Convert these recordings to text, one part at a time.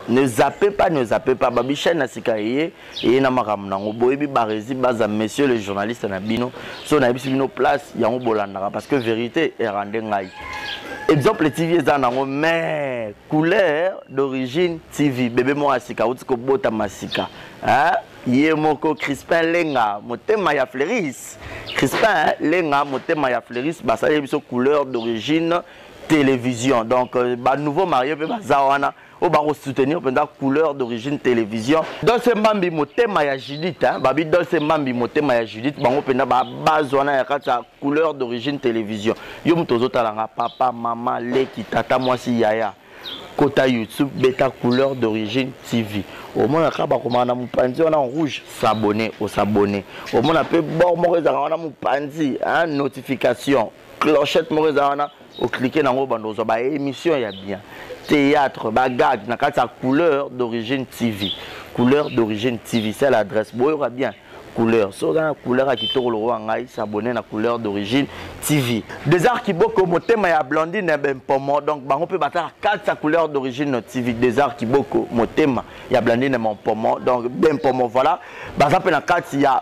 ne zappe pas ne zappe pas babi chaîne na sika eye eye na makambo nango boyebi barezi baza monsieur le journaliste na bino so nayebisi bino place yango bolandaka parce que vérité erande ngai exemple tv eza nango mais couleur d'origine tv bebe moko ya sika auti kobotama sika ye moko crispin lenga motema ya fleuris crispin lenga motema ya fleuris basali biso couleur d'origine télévision donc euh, ba nouveau marie mpe baza wana oyo bakosoutenir mpenza couleur d'origine télévision dolce mbambi motema ya judith hein? babi dolce mbambi motema ya judith bango mpenza babase wana ya kati ya couleur d'origine télévision yo moto ozotalanga papa mama leki tata mwasi yaya kota youtube beta couleur d'origine tv omona kaka bakomaka na mopanzi wana rouge s'abonne osabonne omona mpe bor moko ezalaka wana mopanzi notification clochette moko eza wana oclike nango bando ozwa ba émission ya bien théâtre bagage na kati ya couleur d'origine tv couleur d'origine tv c'est l'adresse boyoka bien couleur soki oza na couleur ya kitoko lokola ngai s'abonne na couleur d'origine tv desar kiboko motema ya blandine ya bempomo donc bango mpe batala kati ya couleur d'origine tv desar kiboko motema ya blandine ya bempomo donc bempomo voilà baza mpe na kati ya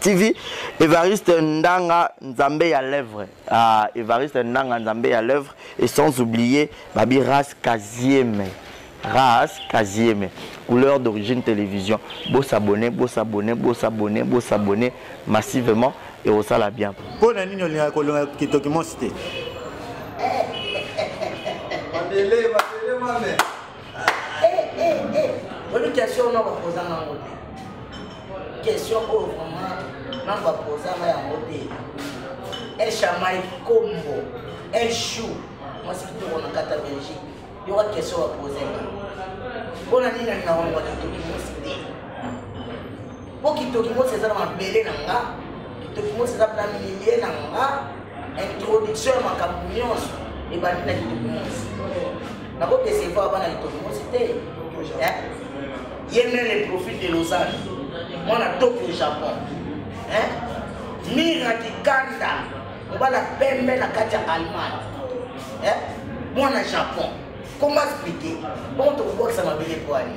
TV Evariste Ndanga Nzambe ya lèvre ah, Evariste Ndanga Nzambe ya lèvre et sans oublier Babi Ras Kazieme Ras Kazieme couleur d'origine télévision beau s'abonner beau s'abonner beau s'abonner beau s'abonner massivement et au sala bien pour na nini olingaka kolonga kitoki monsi te Mandele, mandele, mandele. oyebi question oyo noko kozanga yango te question oyo vraiment noko akozanga yango te echamai kombo echou mwasi kitoko na kata belgique yoka question bapozenga mpo na nini alinga wango kitoki mosi te mpo kitoki mosi eza na mabele na nga kitoki mosi eza na milieu na nga introduction ya makambo nyonso ebandi na litombo nyonso nakodecevoir bana litombo nyonso te eh? ye meme le profil de lausanne mwana tokyo japon eh? mira kikanda mobala pembe na kati ya allemagne eh? mwana japon comment expliquer bongo tokobwakisa mabele po ani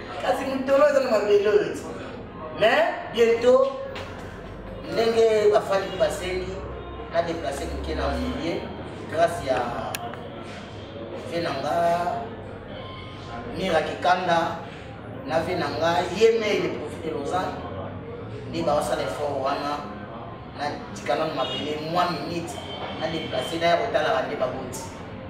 kasi motolo eza na mabele oyo ti mais bientôt ndenge bafandi basengi na deplace moke na moye grâce ya ve na nga mira kikanda na ve na nga ye mei le profit de lausanne nde bawasala effort wana natikana na mabele mwa minute na deplace naya kotalaka nde baboti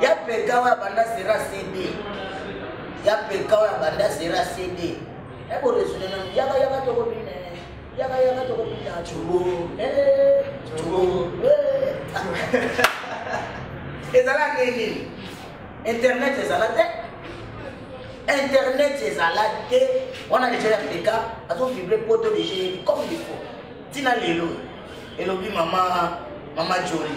ya peka oyo abanda sera cd ya peka oyo abanda sera cd eboresone nanu yaka yaka tokobina yaka yaka tokobina cobo cobo ezala nde nini internet ezala te internet ezala te wana deja ya peka azovibre poto deja yebi comme il faut ntina lelo elobi mama mama joli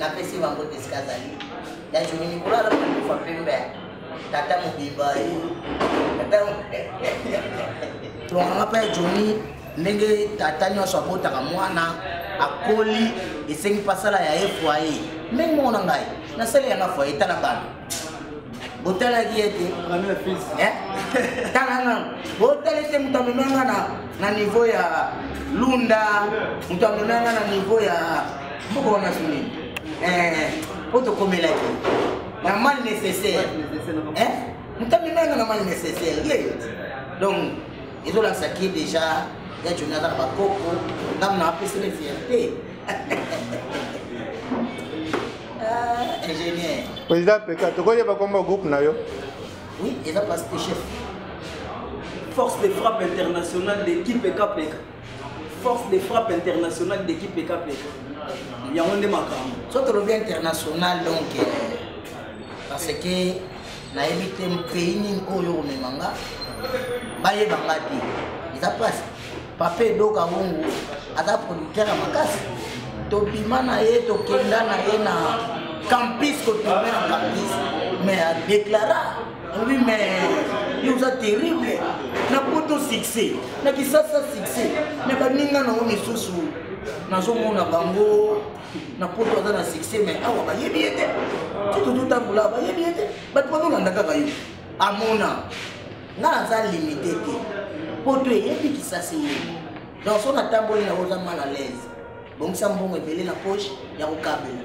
napesi bango deska azali ya joni mikolo alobaka kufa pembe tata mobimba ye tata longanga mpe ya joni ndenge tata nyonso abotaka mwana akoli esengi mpe asala ya ye foye ndenge moko na ngai nasali yanga foye etala bana botalaki ye te eh? tala nano botali te moto amema nga na niveau ya lunda moto amema nga na niveau ya moko wana soni eh, po tokomelaki na mal nécessaire eh? moto amema nga na mal nécessaire ye donc ezolakisa ki déjà ya joni aza na bakoko ngamna apesele fierté président peka tokoyeba kombo groupe na yo oui eza place de chef force de frappe internationale d'équipe ekapeka force de frappe internationale d'équipe ekapeka yango nde makambo so tolobi international donc euh, parce que nayebi te pays nini oyo omema nga bayeba nga te eza place papa edoka wungu aza producteur ya makasi tobima na ye tokenda na ye na campus kotourne na campus mais adéclara oui mais yo oza terrible na poto succès na kisasa succès mais baninga na yo misusu nazomona bango na poto aza na succès mais awa bayebi ye te ti tototambola bayebi ye te bato bazolanda kaka yo amona nga naza limite te poto eyebi kisasi yebo donc so natamboli na oza mal à l'aise bongisa mbongo ebele na poche ya kokabela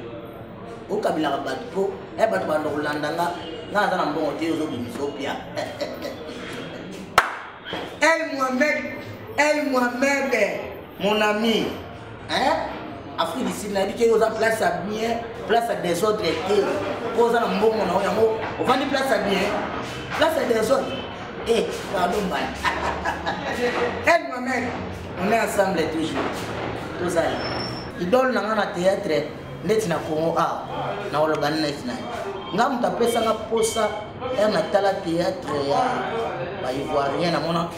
okabelaka bato mpo e bato banda kolanda nga nga naza na mbongo te ozobimisa opia el mohamed el mohamed mon ami hein afrique du sud nayebi keke oza place ya bien place ya desordre te mpo oza na mbongo na yo yango ovandi place ya bien place ya desordre e pardon mbani el mohamed on est ensemble toujours tozali idole na nga na théâtre neti na congo awa na oloba neti na ye nga moto apesanga mposa ere natala théâtre ya baivoirien namona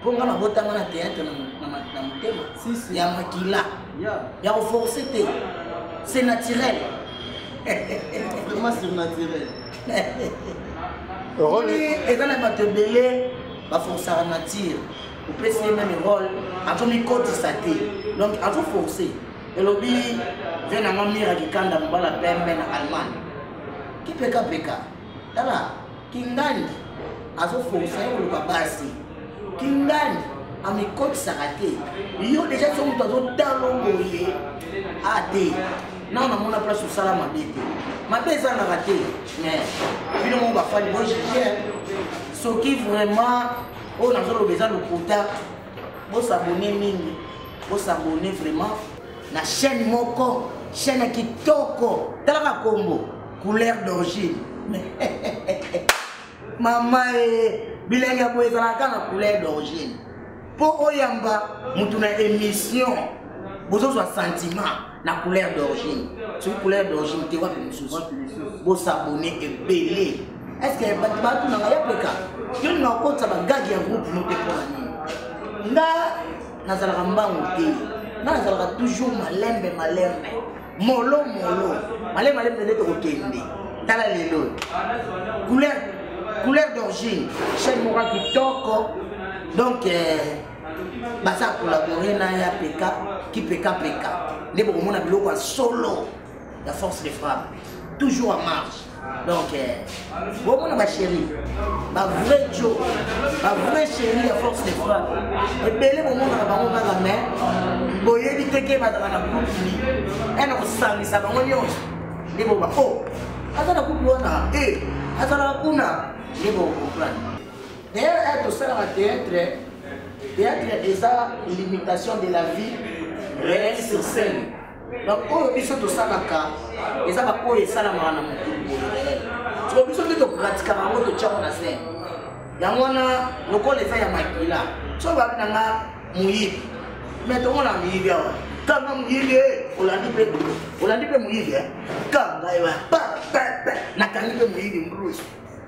mpo nga nabotanga na théâtre na motema ya makila ya koforce te c'est naturel vraiment surnaturel role eza na bato ebele baforsaka nature opesi ye meme role azomikotisa te donc azoforce elobi ve nanga mira kikanda mobala pembe na allemagne kipekapeka tala kingani azoforisa ye koluka basi kingani amikotisaka te yo deja so moto azotalo boye a te nao namona place osala mabe te mabe ezangaka te mais bino moko bafani bojuge soki vraiment oyo nazoloba eza lokuta bosabone mingi bosabone vraiment na chaîne moko chaîne kitoko talaka kombo couleur d'origine mama e bilangi ya boye ezalaka na couleur d'origine mpo oyamba motu na émission bozozwa sentiment na couleur d'origine soki couleur d'origine te wapi mosusu bosabone ebele estce bato batunanga ya peka yo nina okotisa bagage ya groupe no te mpona nini nga nazalaka mbangu te nga nazalaka toujours malembe malembe molo molo male male mende tokokende tala lelo couleur couleur d'origine chaine moko kitoko donc euh, baza kolabore na ya peka kipeka peka nde bokomona biloko ya solo ya force de frappe toujours en marche donc eh, bomona bachéri bavrai jo bavrai chéri ya force de frappe ebele bomonaka bango kaka mai boyebi te ke bazala na kupli ena kosangisa bango nyonso nde boba o oh, aza na kupli wana e eh, azalaka kuna nde bokoprane dayere eh, tosalaka théâtre théâtre eza limitation de la vie réelle sur scène baoyo biso tosalaka eza baoyo esalamaka na motu siko biso nde topratikaka yango totyaka na zene yango wana lokola eza ya makila so babi na nga moyibi me tomona moyibi awa kanga moyibi e olandi mpe olandi mpe moyibi e kanga ewa nakangi mpe moyibi mbrusi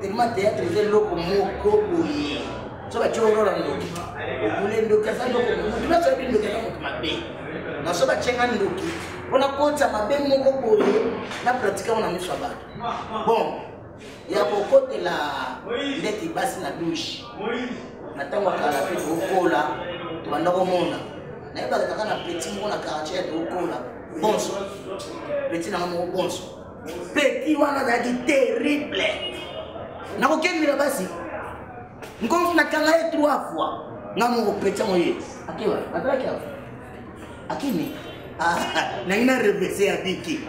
tellement théâtre eza eloko moko boye so batye oro na ndoki obule ndoki aza eloko motu nyonso yebi ndoki aza moto mabe na so batye nga ndoki mpo nakotisa mabe moko boye na pratika ngo na miso ya bato bon ya kokotela ndeti basi na douche na ntango ya kala mpe tokokola tobanda komona nayebaka kaka na peti moko na quartier ya tokokola bonso peti na nga moko bonso petit wana azalaki terrible nakokendela basi nkomi nakanga ye trois fois nga moko petit yango ye akewa azalaki awa akimi ah, nangi na revese abiki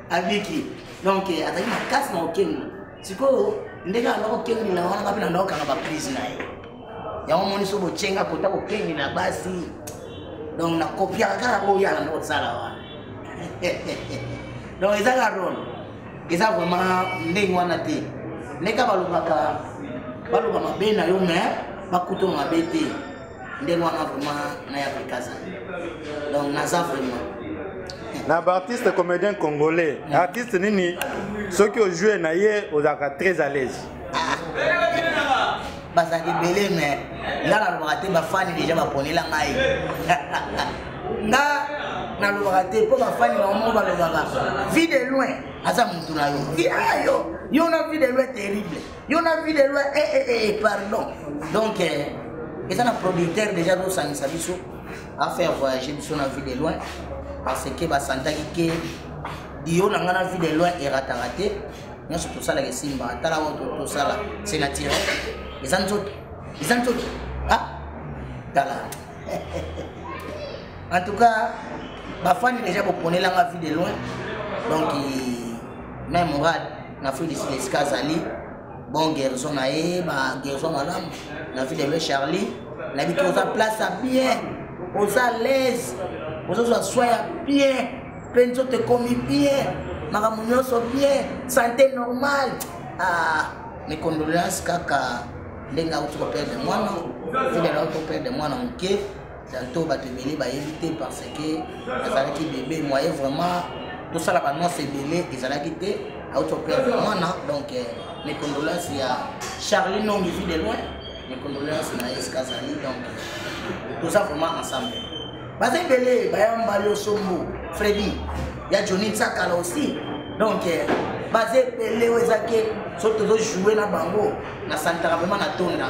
abiki donc azalaki makasi na kokenda sikoyo ndenge anda kokenge na wana ngape nanda kokanga baprise na ye yango omoni so bocenga kota kokenge na basi donc nakopiaka kaka oyo alanda kosala wana donc eza ka role eza vraiment ndenge wana te ndenge balobaka baloba mabe na yo me bakuto mabe te ndenge wana vraiment naya kokaza donc naza vraiment na baartiste comédien congolais mm. artiste nini soki ojoue na ye ozalaka très à l'aise ah. bazalaka ebele mais nga nalobaka te bafani deja baponela ngai nga nalobaka te mpo bafani bango moko balobaka vie de loin aza motu na yo yo yo na vie de loin terrible yo na vie de loi eh, eh, eh, eh pardon donc eh, eza na producteur déjà azosangisa biso afaire voyage biso na vie de loin parce que basantaki ke dio na ngai na vie de loin erataka te nyonso tosalaka esimbaka tala oyo tosala c'est naturel eza nzoto eza nzoto ah tala en tout cas bafani déjà boponelanga vie de loin donc ma morale na feu de silesika azali bon guérison na ye ba guérison malamu na vie de me charlie nayebi te oza place ya bien oza alaise ozozwa soi ya bien mpe nzoto ekomi bien makambo nyonso bien sante normal ah, mes condoléances kaka ndenge auti koperdre mwana fidele auti koperdre mwana moke Tanto bato ebele bayebi te parce que azalaki bebe moye vraiment tosala banonse ebele ezalaki te auto perdre mwana donc euh, mes condolences ya charlie nongi vie de loin mes condolences na eske azali donc toza vraiment ensemble baza ebele bayamba losombo fredi ya johnny nsakala aussi donc euh, baza ebele oyo ezaki so tozojoue na bango na santaka vraimen na tonda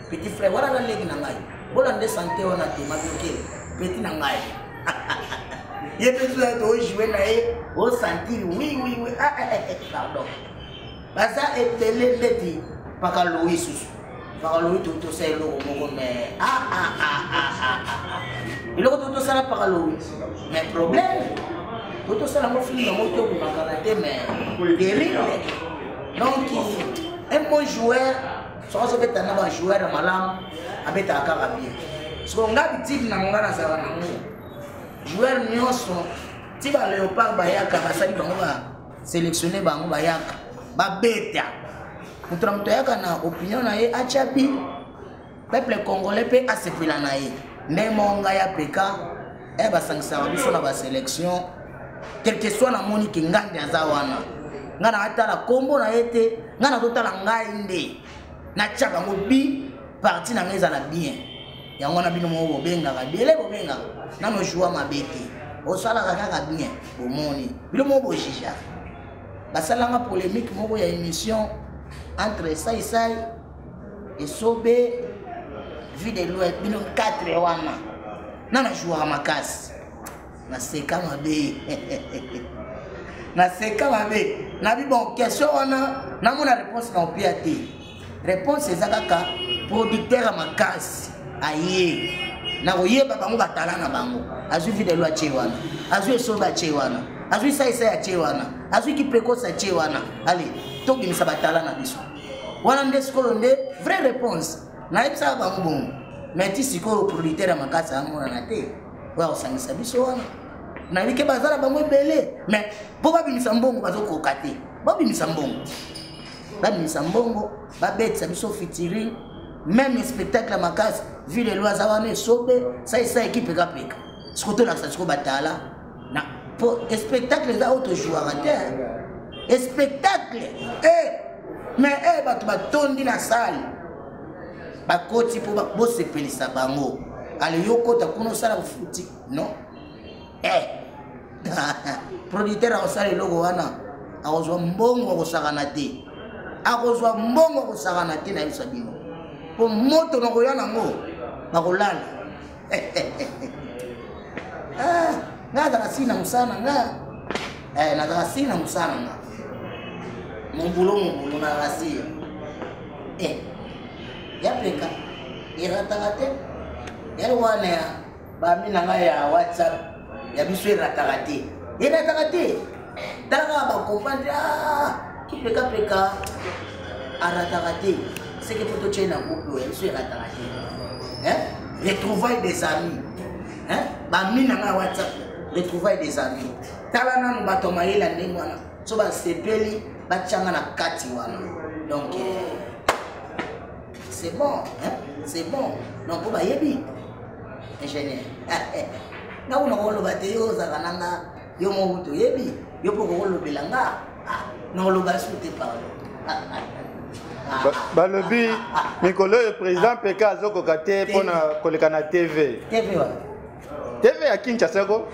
petit frère wana na leki na ngai bola nde sante wana te madoke petit na ngai ye mpe soki ete ojoue na ye osantiri wi wi wi ah, eh, eh, eh, pardon baza ebele ndeti mpaka lowi susu mpaka lowi totosa eloko moko me ah, ah, eloko totosala mpaka lowi me problème totosala yango filme yango te okomakana te me terrible donc un bon joueur soki azobeta na bajoueur ya malamu abetaka kaka bie soko nga bitiki nango nga nazala nango joueur nyonso ti baleopard bayaka basali bango baselectionne bango bayaka babeta moto na moto ayaka na opinion na ye atya bi peuple congolais mpe asepela na ye nde monga ya peka eh basangisaka biso na baselection quelque soit namoni ke ngandi aza wana ngai naatala nkombo na ye te ngai nazotala ngai nde natya bango bi parti na ngai ezala bien yango wana bino moko bobengaka biele bobengaka nano joua mabe te osalaka kaka bien bomoni bino moko bojijaka basalanga polémique moko ya émission entre saisai esobe vue de loin bino 4 wana na na jouaka makasi naseka mabe naseka mabe nabi bon question wana namona réponse na opia te réponse eza kaka producteur ya makasi aye nakoyeba bango batala na bango azwi vue de loin atie wana azwi esobe atie wana azwi saisai atie wana azwi kiprecoce atie wana ale tobimisa batala na biso wana nde sikoyo nde vraie réponse nayebisaka bango bongo mais ti sikoyo producteur ya makasi amonana te oyo akosangisa biso wana nayebi ke baza na bango ebele mais mpo babimisa mbongo bazokoka te babimisa mbongo babimisa mbongo babetisa biso fitiring meme spectacle ya makasi ville eloi aza wana esobe saisa ekipe kapeka sikoyo tolakisa sikoyo batala na po spectacle eza oyo tozwaka te spectacle eh, mais eh, bato batondi na sale bakoti mpo bosepelisa bango ale yo okota kuna osala kofuti non eh. producteur akosala eloko wana akozwa mbongo akosakana te akozwa mbongo akosakana te nayebisa bino mpo moto nakoya nango bakolala ah, nga azala si na mosala na nga eh, nazala si na mosala na nga mobulo mobulo na rasir eh, ya pleka erataka te yali wana ya bami na nga ya whatsapp ya biso erataka te erataka te talaka bakomande ah, kipekapeka arataka te seke mpo totyai na groupe oyo ya biso erataka te retrouvaille des amis bami na ngai whatsapp retrouvaille des amis tala nanu bato ya mayele ya ndenge wana so basepeli batyanga na kati wana donc eh, c'est bon hein? c'est bon donc mpo bayebi ingénieur nga kuna koloba te yo ozalaka na nga yo moko toyebi yo mpo kokolobela nga ah, nakoloba su te pardon balobi mikolo oyo président peka azokoka te mpo na koleka na tv tv ya kinshasa ko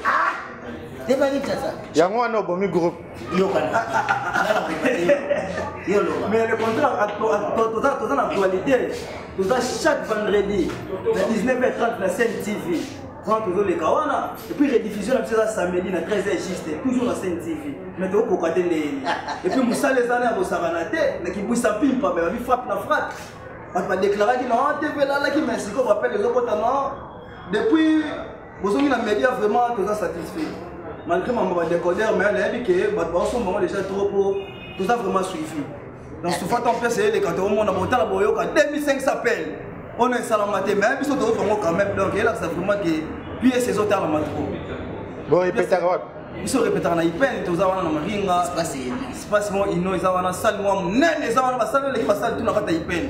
yango wana obomi groupe mais le contrat toza na actualité toza chaque vendredi na 19h30 na scène tv quand tozoleka wana epuis rediffusion na biso eza samedi na 13 juste toujours na scène tv mais tokokoka te ndeyeni epuis mosala eza na ya kosakana te na kibwisa pimpa me babi frappe na frappe bato badeklaraki na tv elalaki mais sikoyo bapele ezokota na depuis bozongi na media vraiment toza satisfait malgré mambo badécodeur mais nayebi ke bato baosomba yango déjà trop po toza vraiment suivi donc souvent tant place eleka toomona botala boyoka 2500 appel ono esalama te mais biso toyoka yango quand même donc elakisa vraiment ke piese ezotalama trop bon epetaka wapi biso repetaka na ipene toza wana na maringa espace mo ino eza wana sale mwa monene eza wana basale eleki basale tuna kata ipene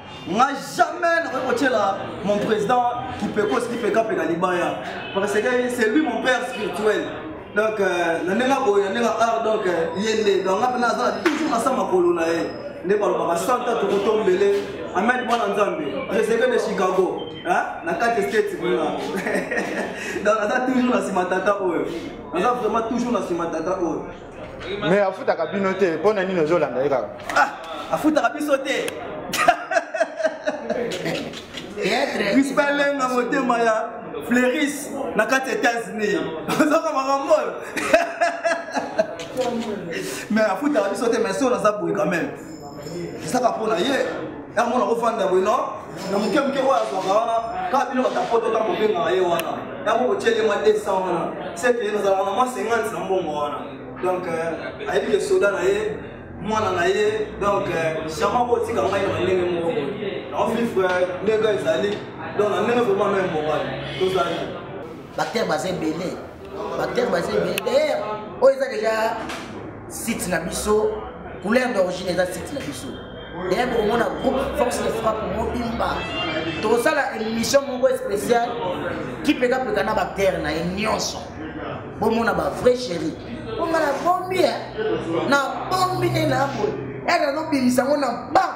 nga jamais nakoki kotyela mon président kipekos kipekape na libaya parce que c'est lui mon père spirituel donc euh, na ndenge boye na ndenge art donc euh, ye nde donc nga mpena aza na toujours na sa makolo na ye nde balobaka santa tokotombele amen mwana nzambe preseke de chicago na kati state kuna donc naza toujours na nsima tata oyo naza vraiment toujours na nsima tata oyo mais afutaka bino te mpo na nini ozolanda ye kaka ah, afutaka biso te rispalenga motema ya fleuris na kati ya états-unis ozaka makambo oyo mais afutaka biso te mais solo aza boye quand même ezaka mpo na ye yango mona ofanda boye no na moke moke oyo azwaka wana kaka bino batapoto ta kobengaka ye wana yango kotyeli mwa 200 wana seke nazalaka na mwa 50 na mbongo wana donc euh, ayebi ke soda na ye mwana na ye donc chama euh, kotika ngai na ndenge moko naofifre ndenge ezali donc na ndenge vraimen no embobali tozali Bactère baza ebele. Bactère baza ebele. D'ailleurs, oyo eza déjà site na biso, couleur d'origine eza site na biso. D'ailleurs, bokomona groupe Force de Frappe mobimba. Tokosala émission moko spéciale qui peka peka na bactère na ye nyonso. Bomona ba vrai chéri. Bonga na bombi, na bombi nde na boye. Eka nobimisa ngo na ba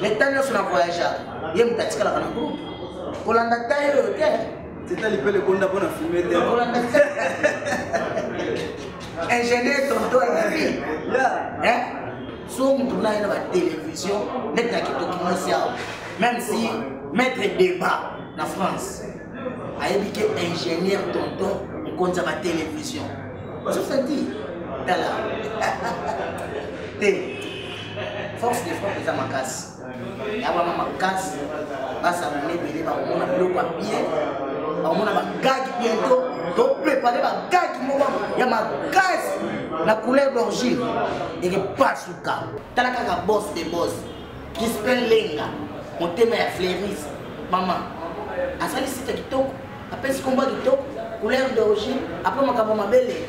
mais ntango nyonso na voyageaka ye moto atikalaka na groupe kolanda taille oyo te teta lipele konda mpo na filme te kolanda ingénieur tonto alabi so moto na ye na batelevizio neti na kitoki mwasi awa même si maître débat na france ayebi ke ingénieur tonton mokonzi ya batelevizio sosati tala te force de frappe eza makasi ya wana makasi basangana ebele bakomona biloko ya bien bakomona bagage biento toprepare bagage moko ya makasi na couleur d'origine eke pasuka tala kaka bos de bos crispin lenga motema ya fleuris mama asali site kitoko apesi kombo kitoko couleur d'origine apres makambo mabele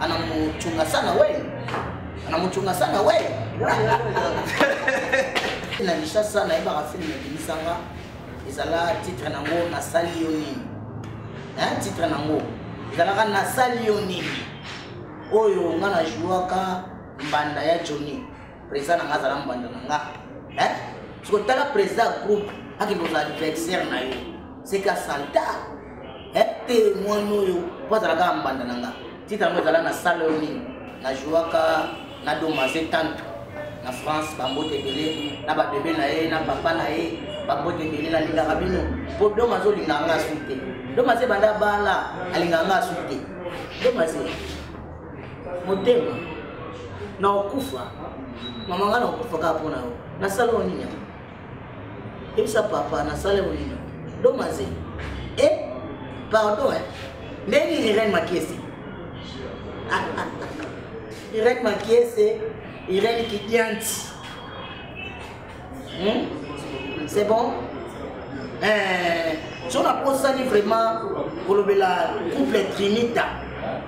anamuchunga sana we anamuchunga sana we na lishasa nayebaka filme ebimisanga ezala titre nango nasali yo nini titre nango ezalaka nasali yo nini oyo nga na jouaka mbanda ya joni Président na nga azala mbanda na nga. Hein? Siko tala président ya groupe akende kozala adversaire na yo. Seke asalta. Hein? Te mwana oyo mpo azala kaka mbanda na nga. Titre yango ezala na salle oyo nini? Na jouaka na domaze tanto na France bambote ebele na babebe na ye na papa na ye bambote ebele nalingaka bino mpo domaze olingaka nga su te domaze ebanda bala alingaka nga su te domaze motema na okufa mama nga na okufa kaka mpo na yo nasala yo nini yango yebisa papa nasala yo nini domaze e pardon e ndenge nini irene makiese irene makiese irene kidianti hmm? c'est bon eh, so naposani vraiment kolobela couple trinita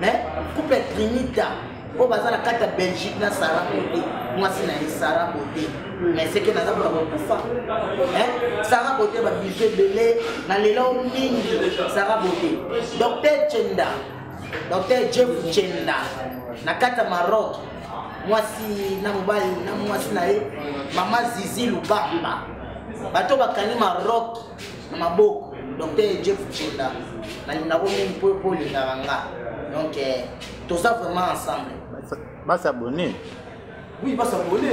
eh? couple trinita oyo baza na kati ya belgique na sara bote mwasi na ye sara bote mais seke naza mpona kokufa sara bote babizu ebele na lelo mingi sara bote docteur chenda docteur jeff chenda na kati ya maroc mwasi na mobali na mwasi na ye mama zizi lubamba bato bakangi maroc na maboko docteur jeff chenda nalingako mingi mpo mpo olingaka nga donc eh, toza vraiment ensemble basabone oui basabone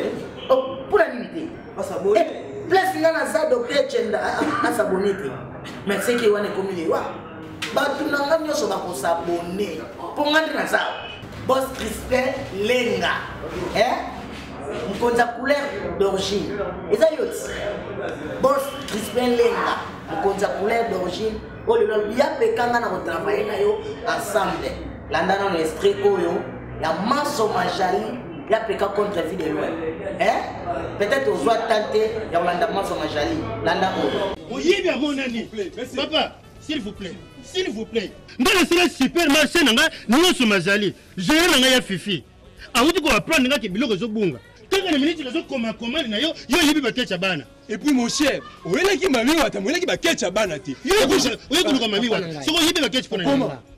mpo na nini te basabone place nga naza docteur chenda asabone te mais seke wana ekomi lewa bato na nga nyonso bakosabone mpo nga nde naza Boss Crispin Lenga. Hein? Mkonza couleur d'origine. Eza yoti. Boss Crispin Lenga. Mkonza couleur d'origine. Oh le lol, ya pekanga na ko travailler na yo ensemble. Landa na l'esprit oyo ya maso majali ya peka contre vie de loin. Hein? Peut-être ozwa tante ya kolanda maso majali. Landa oyo. Oyebi amonani. Papa. s'il vous plaît s'il vous plaît nga nasala super marché na nga nyonso mazali gere na ngai ya fifi awuti koaprendre nga ke biloko ezobunga kaka na miniti nazokoma komande na yo yo oyebi baketch ya bana epuis mon cher oyelaki mami wata moyelaki baketch ya bana te oye koluka mami wata soki oyebi baketch mpona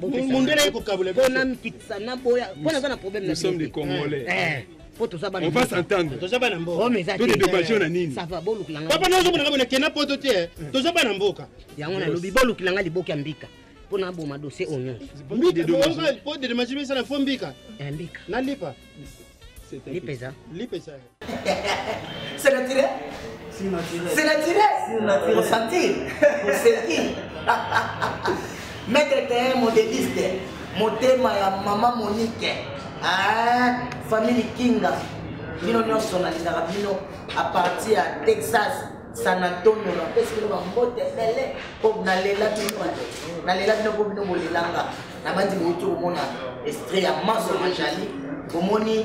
mundele ekokabula biso na mpikisa na boya mpo naza na problème na sommes des congolais eh, eh. po toza bana on va s'entendre toza bana mboka oh, mais to de dommage na nini ça va bolukila nga papa nazo mona kama kena poto te eh. toza bana mboka yango na lobi bolukila nga liboki ya mbika po na boma dossier oignon mbika de dommage po de dommage ça na fo mbika mbika na lipa lipa eza lipa eza C'est naturel C'est naturel. C'est naturel. C'est naturel. Ressenti. Ressenti. Maître Terrain, modéliste. Motema ya maman Monique. Ah, famille Kinga. Bino nyonso nalingaka bino à partir ya Texas. San Antonio napesi bino bambote ebele mpo nalela bino bande nalela bino mpo bino bolelanga nabandi bouti komona estre ya manso majali bomoni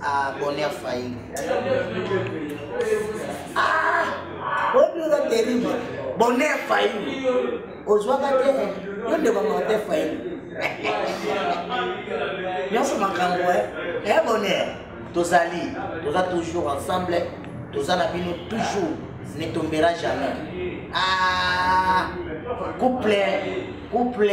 Ah, bonheur failli. Ah, bonheur terrible. Bonheur failli. Ozwaka te, yo nde bamonte failli. Nyonso makambo, eh, eh bonheur. Tozali, toza toujours ensemble, toza na bino toujours, ne tombera jamais. Ah, couple, couple.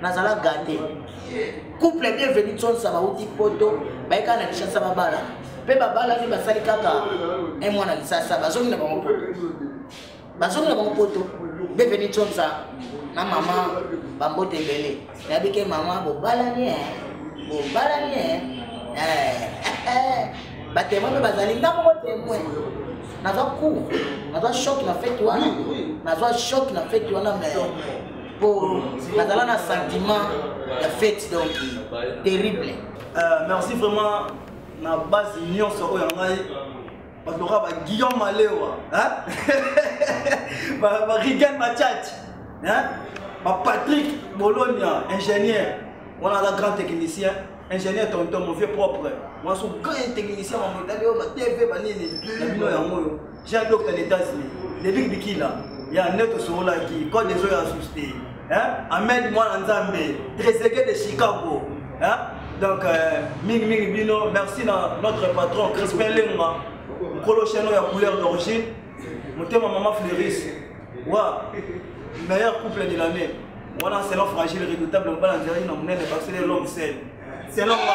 nazala gate couple bienvenu tsonsa bauti poto bayeka na kinshasa babala mpe babalani basali kaka e mwana lisasa bazongi na bango poto bazongi na bango poto bienvenu tsonsa na mama bambote ebele nayebi ke mama bobalani e bobalani e batemwe mpe bazali nga moko temwe nazwa cour nazwa shok na fete wana nazwa shok na fete wana mais po nazala na sentiment ya fete donc terrible euh, merci vraiment na base nyonso oyo ya ngai bato loka ba guillaume malewa barigan bachach bapatrick bolonia ingénieur wana aza grand technicien ingénieur tonton mon vieux propre mwaso grand technicien mamodali oyo batv banini na bino yango oyo j'ai un docteur d'état unis david bikila ya nde tosololaki code ezo ya susu te ahmed mwana nzambe tresege de chicago hein? donc euh, mingi mingi bino merci na notre patron crispin lenga nkolo chano ya couleur d'origine motema mama fleuris wa meilleur couple de l'année wana selon fragile redoutable mobala nzela ye na monene basele l'homme sel selon nga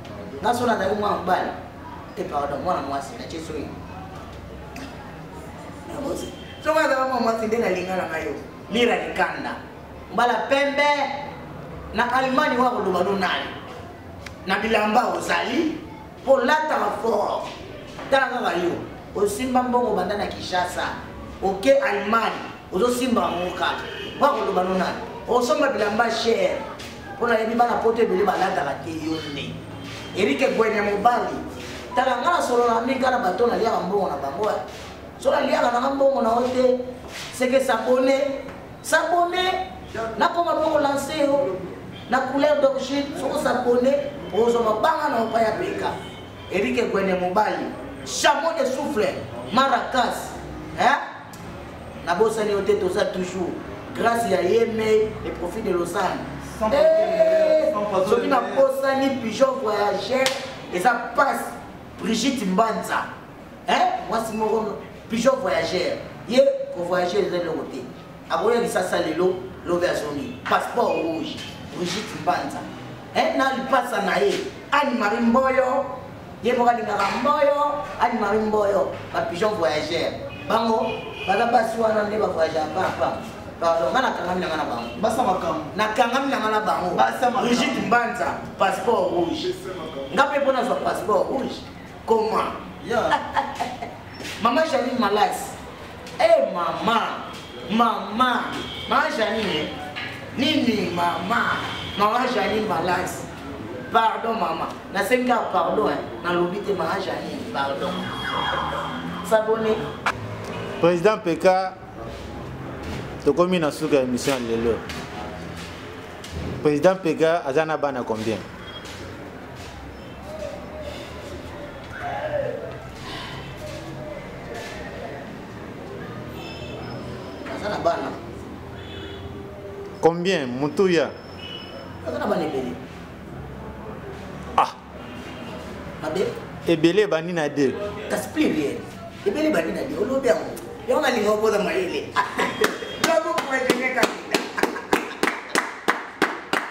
nga so nazali mwana mobali te pardon mwana mwasi na tie soyi soki azala mwana mwasi nde nalinga na ngai yo lira likanda mbala pembe na allemagne wa koloba no nani na bilamba ozali mpo olataka fort tala kaka yo osimba mbongo banda na kinshasa oke allemagne ozosimba yango kaka mpo akoloba no nani osomba bilamba cher mpo nayebi bana poto ebele balataka te yo nde erike gwene mobali tala nga nasolola mingi na bato naliaka mbongo na bango eh. so naliaka nanga mbongo na yo te seke sabone sabone nakoma mpo kolanse yo na couleur d'origine soko sabone ozwa mabanga na opa ya peka erike gwene mobali chamo de souffle maracas eh? nabosani yo te toza toujours grâce ya yemei le profit de lausanne eh, soki nabosani pigeon voyageur eza passe brigitte mbanza mwasi moko pigeon voyageur ye kovoyage eza eloko te akoya lisasa lelo lobi azongi passeport rouge brigitte mbanza eh, na lipasa na ye anne marie mboyo ye moko alingaka mboyo anne marie mboyo bapigeon voyageur bango baza basi wana nde bavoyageur papa pardon nga nakangami na nga na bango basa makambo nakangami na nga na bango rigite mbanza passeport rouge nga mpe mpo nazwa passeport rouge comment mama janine malasi Eh mama, mama, ma Janine, nini mama, mama Janine balance. Pardon mama, na sengi ka pardon, hein. na lobi te mama Janine, pardon. S'abonner. Président PK, tokomi na suka émission lelo. Président PK azana bana combien? combien mutuya ah ebele ebandi na de ebele ebandi na de olobi yango yango nalinga okoza mayele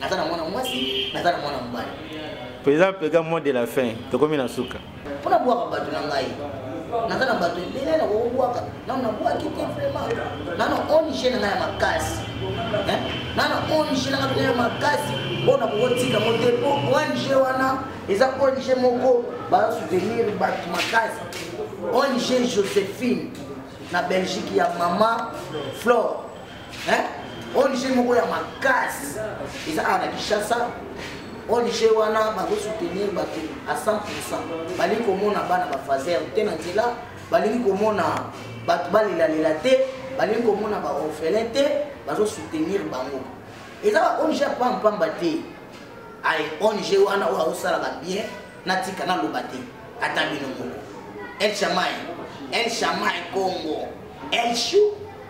naza na mwana mwasi naza na mwana mobali président pega mois de la fin tokomi na suka mpona bwaka bato na ngai naza na bato ebele na kokobwaka nano nabwaki te vraiment nano ong na ngai ya makasi nano ong na ngai ya makasi mpo na kokotika ngo te mpo ong wana eza ong moko bazasoutenir bato makasi ong josephine na belgique ya mama flore hein ONG moko ya makasi eza awa na Kinshasa ONG wana bazo soutenir bato à 100% balingi komona bana ba fazer te na nzela balingi komona bato balelalela te balingi komona ba orphelin te bazo soutenir bango eza ba ONG ya pampamba te ay ONG wana oyo azosalaka bien natika naloba te ata bino moko el chamai el chamai congo el chou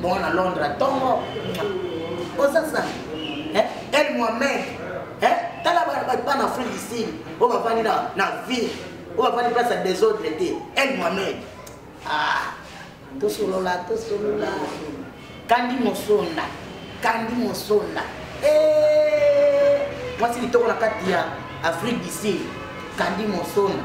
bongo na londre ntongo oza sa eh, el mohamed eh, tala bana afrique du sud oyo bafandi na ville oyo bafandi place ya desordre te el mohamed ah, tosolola tosolola kandi mosonda kandi mosonda eh, mwasi litoko na kati ya afrique du sud kandi mosonda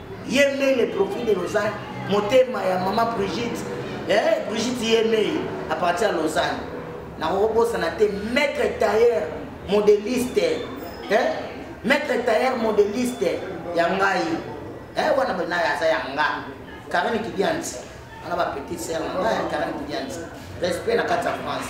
ye mei le profil de lausanne motema ya mama brigitte eh, brigitte ye mei à partir ya lausanne nakokobosana te maître tailleur modeliste eh? maître tailleur modeliste ya ngai eh, wana benaye aza ya nga karine kidianti wana bapetit ser na ngai karine kidianti respect na kati ya france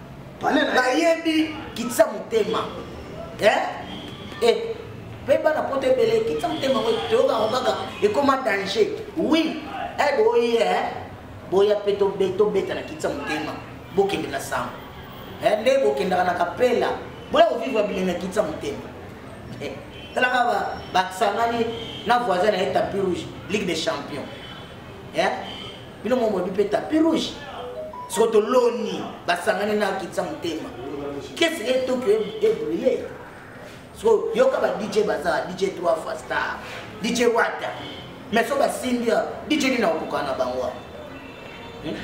nayebi kitisa motema eh? eh, mpe bana poto ebele kitisa motema ngo toyokaka kaka ekoma danger oui e eh, boye eh? boya mpe tobeta na kitisa motema bokende na sango eh, nde bokendaka na kapela boya kovivre bilenge kitisa motema eh, talaka basangani na voisin na ye tapi rouge ligue des champions eh? bino mo molobi mpe tapi rouge soko toloni basangani na kitisa motema kesi e tokyo ebrile e so yoka ba dj baza dj 3 fois star dj wata mais so basimbi ya dj nini akokoka na bango hmm?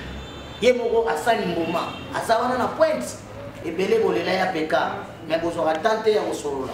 ye moko asali mbuma aza wana na pointe ebele bolela ya peka mais bozwaka tante ya kosolola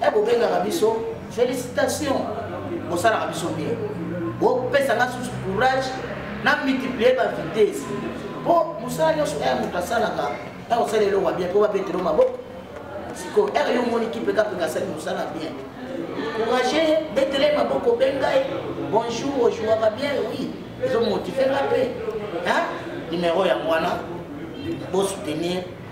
e bobengaka biso félicitation bosalaka biso bien bopesa nga susu courage na multiplier ba vitesse mpo mosala nyonso ere moto asalaka ere osala eloko bien mpo babetelo maboko sikoyo ere yo omoni kipekapeka asali mosala bien courage betele maboko mpe ngai bonjour ojouaka bien oui ezomotive nga mpe numero yango wana bosoutenir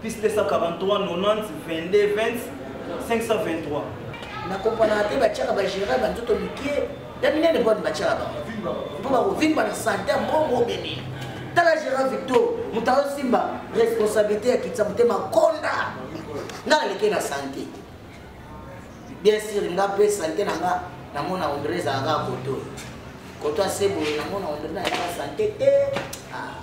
Plus 243 90 22 20 523. Na comprendre te ba tchaka ba gérer ba nzoto mike. Ya minene bonne ba tchaka ba. Mpo ba kovimba na santé mbongo bene. Tala gérer Victor, mutayo simba responsabilité ya kitsa mutema konda. Nga aleke na santé. Bien sûr nga pe santé na nga na mona ondre za nga koto. Koto asebo na mona ondre na nga santé te. Ah.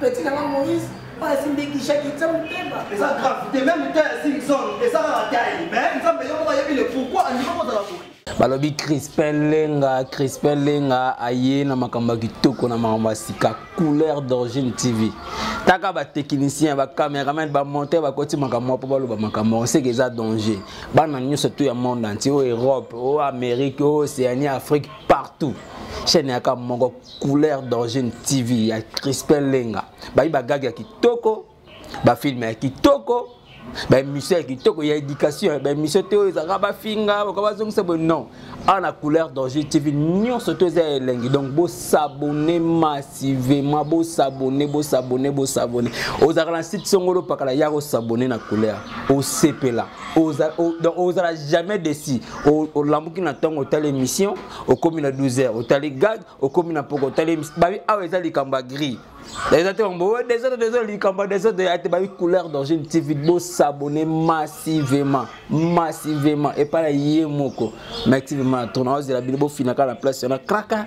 petit na nga moïse oyo asimbekishaki eza motema eza grave te meme ta ya simson eza kaka tai mais nzambe yo moko ayebi le pourquoi andima kozala boye balobi crispin lenga crispin lenga aye na makambo ya kitoko na makambo ya sika couleur d'origine tv taka batechnicien bacameraman bamonteur bakoti makambo mpo baloba makambo yango seke eza danger bana nyonso to ya monde anti oyo europe oyo amérique oyo océanie afrique partout chaîne yaka moko couleur d'origine tv ya crispin lenga bayi bagage ya kitoko bafilme ya kitoko baémission ya kitoko ya éducation baémission te oyo ezalaka bafinga baka bazongisa boye non awa na couleur d'origine tv nyonso to eza ya elengi donc bosabone massivement bosabone bosabone bosabone ozalaka na site songolo pakala ya kosabone na couleur osepela ozala jamais desi olambuki na ntongo otala émission okomi na 12 heures otali gag okomi na poko otali babi awa eza likambo ya gris eza te bango oyo desordre desordre likambo ya desordre ya te babi couleur d'origine tv bosabone massivement massivement epai na ye moko massivement na tourna ozela bino bofinaka na place wana kraka